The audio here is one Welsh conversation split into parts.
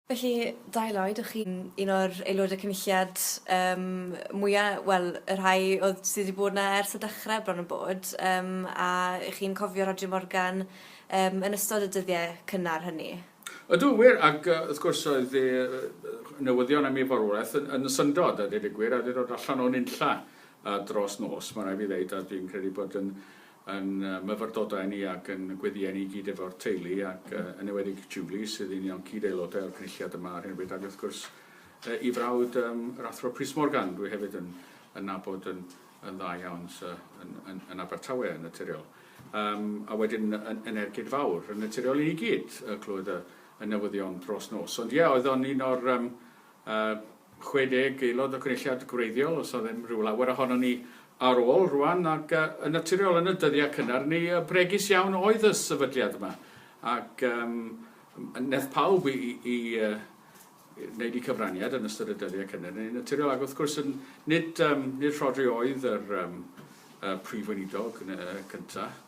Felly, Dai Lloyd, o'ch chi'n un o'r aelodau cynulliad um, mwya', wel, y rhai oedd sydd wedi bod yna ers y dechrau bron yn bod, um, a chi'n cofio Roger Morgan um, yn ystod y dyddiau cynnar hynny? Ydw, wir, ac uh, wrth gwrs oedd e, newyddion am ei farwolaeth yn, yn syndod, a dweud y gwir, a wedi dod allan o'n unlla uh, dros nos, mae'n rhaid fi ddeud, a dwi'n credu bod yn yn myfyrdodau ni ac yn gweddïau ni i gyd efo'r teulu ac yn ewedig Julie sydd un o'n cyd-aelodau o'r cynulliad yma ar hyn o bryd ac wrth gwrs i frawd um, yr Athro Prys Morgan, dwi hefyd yn, yn nabod yn, yn dda iawn sy, yn, yn, yn Abertawe yn naturiol. Um, a wedyn yn, yn ergyd fawr yn naturiol i ni gyd y clywed y, y newyddion dros nos. Ond ie, yeah, oedd o'n un o'r um, a 60 aelod o Gynulliad gwreiddiol, os oedd e'n rhyw lawer ohonon ni ar ôl rwan, ac yn naturiol yn y dyddiau cynnar ni, bregus iawn oedd y sefydliad yma, ac yym neth pawb i, i, i wneud i cyfraniad yn ystod y dyddiau cynnar ni, naturiol, ac wrth gwrs nid, um, nid Rhodri oedd yr um, y prif weinidog cyntaf,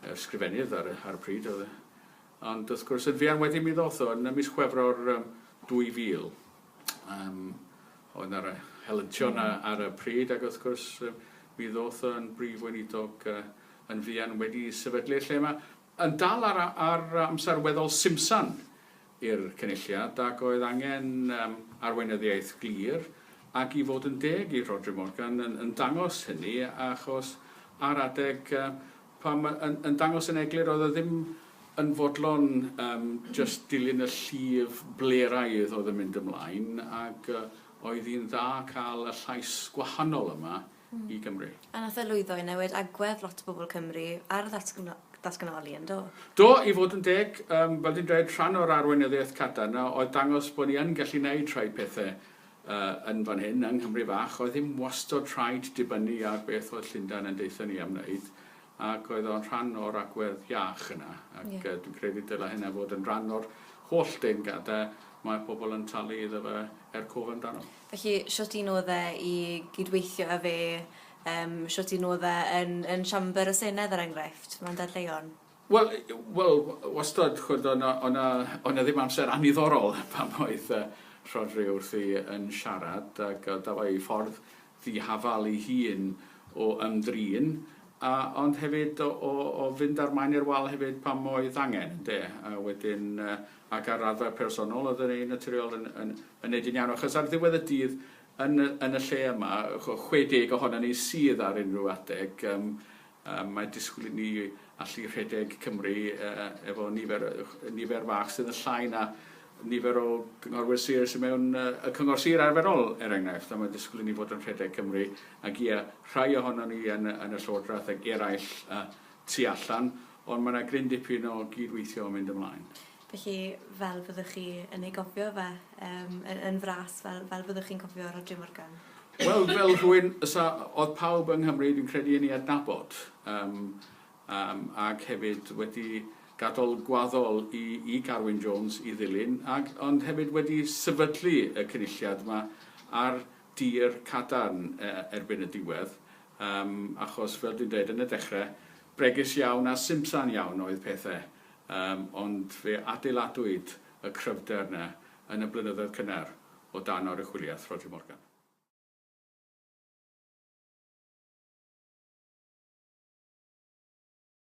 yr sgrifennydd ar, ar y pryd, oedd Ond wrth gwrs, yn fuan wedyn mi ddoth o, yn y mis Chwefror 2000. Yym, oedd yna helyntion ar y pryd ac wrth gwrs mi ddoth o yn Brif Weinidog yn fuan wedi sefydlu y lle 'ma. Yn dal ar ar amser weddol simsan i'r Cynulliad ac oedd angen yym arweinyddiaeth glir ac i fod yn deg i Rhodri Morgan yn yn dangos hynny achos ar adeg Pam yn yn dangos yn eglur oedd e ddim yn fodlon yym jyst dilyn y llif bleraidd oedd yn mynd ymlaen ag yy oedd hi'n dda cael y llais gwahanol yma i Gymru. A nath e lwyddo i newid agwedd lot o bobl Cymru ar ddatgno- datganoli yn do? Do, i fod yn deg yym fel dwi'n dweud rhan o'r arweinyddiaeth cadarn oedd dangos bod ni yn gallu neud rhai pethe yn fan hyn, yng Nghymru fach, oedd ddim wastod rhaid dibynnu ar beth oedd Llundain yn deutha ni am wneud, ac oedd o'n rhan o'r agwedd iach yna, ac yeah. dwi'n credu dyla hynna fod yn rhan o'r holl deungadau mae pobl yn talu iddo fe er cof amdano. Felly, siwt un oedd e i gydweithio â fe, um, siwt un oedd e yn, yn siamber y Senedd, er enghraifft, mae'n dadleuon? Wel, wel, wastad, ch'od, o' 'na, o' 'na, o' 'na ddim amser anniddorol pan oedd yy Rhodri wrthi yn siarad, ac yy dafai ei ffordd ddihafal ei hun o ymdrin, a ond hefyd o o o fynd â'r maen i'r wal hefyd pam oedd angen, ynde? A wedyn yy ac ar raddfa personol oedd e'n naturiol yn yn yn neud yn iawn, achos ar ddiwedd y dydd yn y yn y lle yma, chwe deg ohonon ni sydd ar unrhyw adeg, yym Mae disgwyl i ni allu rhedeg Cymru efo nifer nifer fach sydd yn llai na nifer o gynghorwyr sir sydd mewn y cyngor sir arferol, er enghraifft, a mae disgwyl i ni fod yn rhedeg Cymru, ac ie, rhai ohonon ni yn yn y Llywodraeth ac eraill tu allan, ond mae yna gryn dipyn o gyd-weithio yn mynd ymlaen. Felly, fel fyddwch chi yn ei gofio fe, yym, y- yn fras, fel, fel fyddwch chi'n cofio Rhodri Morgan? Wel, fel rhywun fysa, oedd pawb yng Nghymru, dwi'n credu, yn ei adnabod, yym, yym, ac hefyd wedi gadol gwaddol i, i Carwyn Jones i ddilyn, ac, ond hefyd wedi sefydlu y Cynulliad 'ma ar dir cadarn e- erbyn y diwedd, yym, achos, fel dwi'n dweud, yn y dechre, bregus iawn a simsan iawn oedd pethe. Yym, ond fe adeiladwyd y cryfder yna yn y blynyddoedd cynnar o dan oruchwyliaeth Roger Morgan.